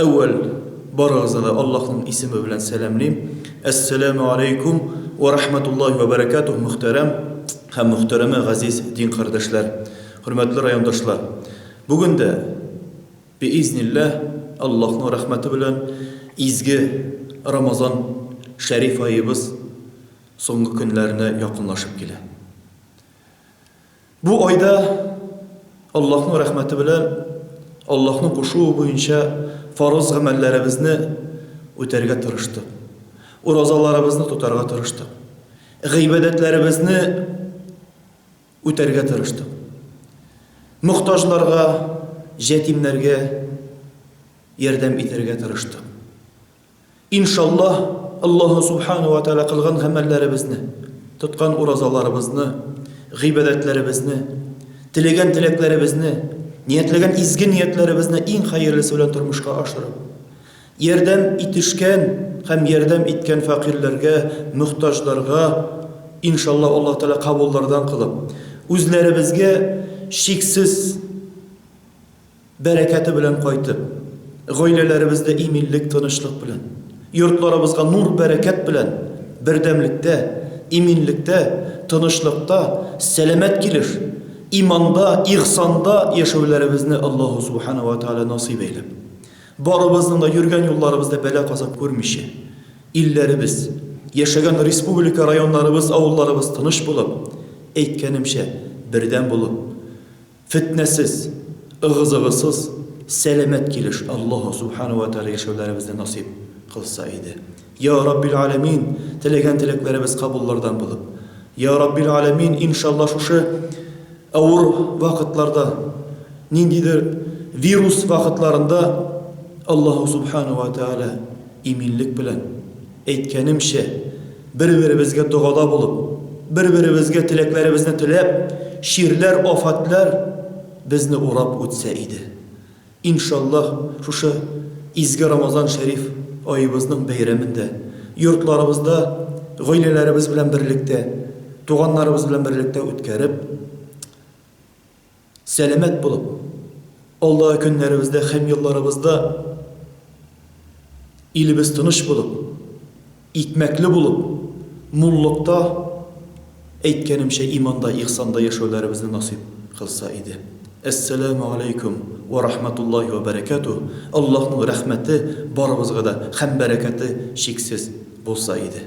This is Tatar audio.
Әүвәл барыгызны да Аллаһның исеме белән сәламлим. Әссәләмү алейкум вә рахмәтуллаһи вә бәрәкәтүһ, мөхтәрәм һәм мөхтәрәмә газиз дин кардәшләр, хөрмәтле райондашлар! Бүген дә, биизнилләһ, Аллаһның рәхмәте белән, изге Рамазан шәриф аебыз соңгы көннәренә якынлашып килә. Бу айда Аллаһның рәхмәте белән Аллаһның кушуы буенча фарыз гамәлләребезне үтәргә тырыштык. Уразаларыбызны тотарга тырыштык. Гыйбадәтләребезне үтәргә тырыштык. Мохтаҗларга, җәтимнәргә ярдәм итәргә тырыштык. Иншаллаһ, Аллаһу Субхана уә Тәгалә кылган гамәлләребезне, тоткан уразаларыбызны, гыйбадәтләребезне, теләгән теләкләребезне, ниятләгән изге ниятләребезне иң хәерлесе белән тормышка ашырып, ярдәм итешкән һәм ярдәм иткән фәкыйрьләргә, мөхтаҗларга, иншаллаһ, Аллаһу Тәгалә кабуллардан кылып, үзләребезгә чиксез Бәрәкәте белән кайтып, гаиләләребездә иминлек, тынычлык белән, йортларыбызга нур, бәрәкәт белән бердәмлектә, иминлектә, тынычлыкта, сәламәт килеш, иманда, ихсанда яшәүләребезне Аллаһу Субхана ва Тәгалә насыйп әйләп, барыбызның да йөргән юлларыбызда бәла-казап күрмичә, илләребез, яшәгән республика, районнарыбыз, авылларыбыз тыныч булып, әйткәнемчә, бердәм булып, Фетнәсез, ыгы-зыгысыз, сәламәт килеш Аллаһу Субхана уә Тәгалә яшәүләребезне насыйп кылса иде. Йа Раббил Галәмин, теләгән теләкләребез кабуллардан булып. Йа Раббил Галәмин, иншалла шушы авыр вакытларда, ниндидер вирус вакытларында Аллаһу Субхана уә Тәгалә иминлек белән, Әйткәнемчә, бер-беребезгә догада булып, бер-беребезгә теләкләребезне теләп, чирләр, афәтләр безне урап үтсә иде. Иншаллаһ, шушы изге Рамазан шәриф аебызның бәйрәмендә, йортларыбызда гаиләләребез белән берлектә, туганнарыбыз белән берлектә үткәреп, Сәламәт булып, алдагы көннәребездә һәм елларыбызда илебез тыныч булып, икмәкле булып, муллыкта, әйткәнемчә, иманда, ихсанда яшәүләребезне насыйп кылса иде. Әссәләмү аләйкүм вә рахмәтуллаһи вә бәрәкәтүһ, Аллаһның рәхмәте барыбызга да һәм бәрәкәте чиксез булса иде.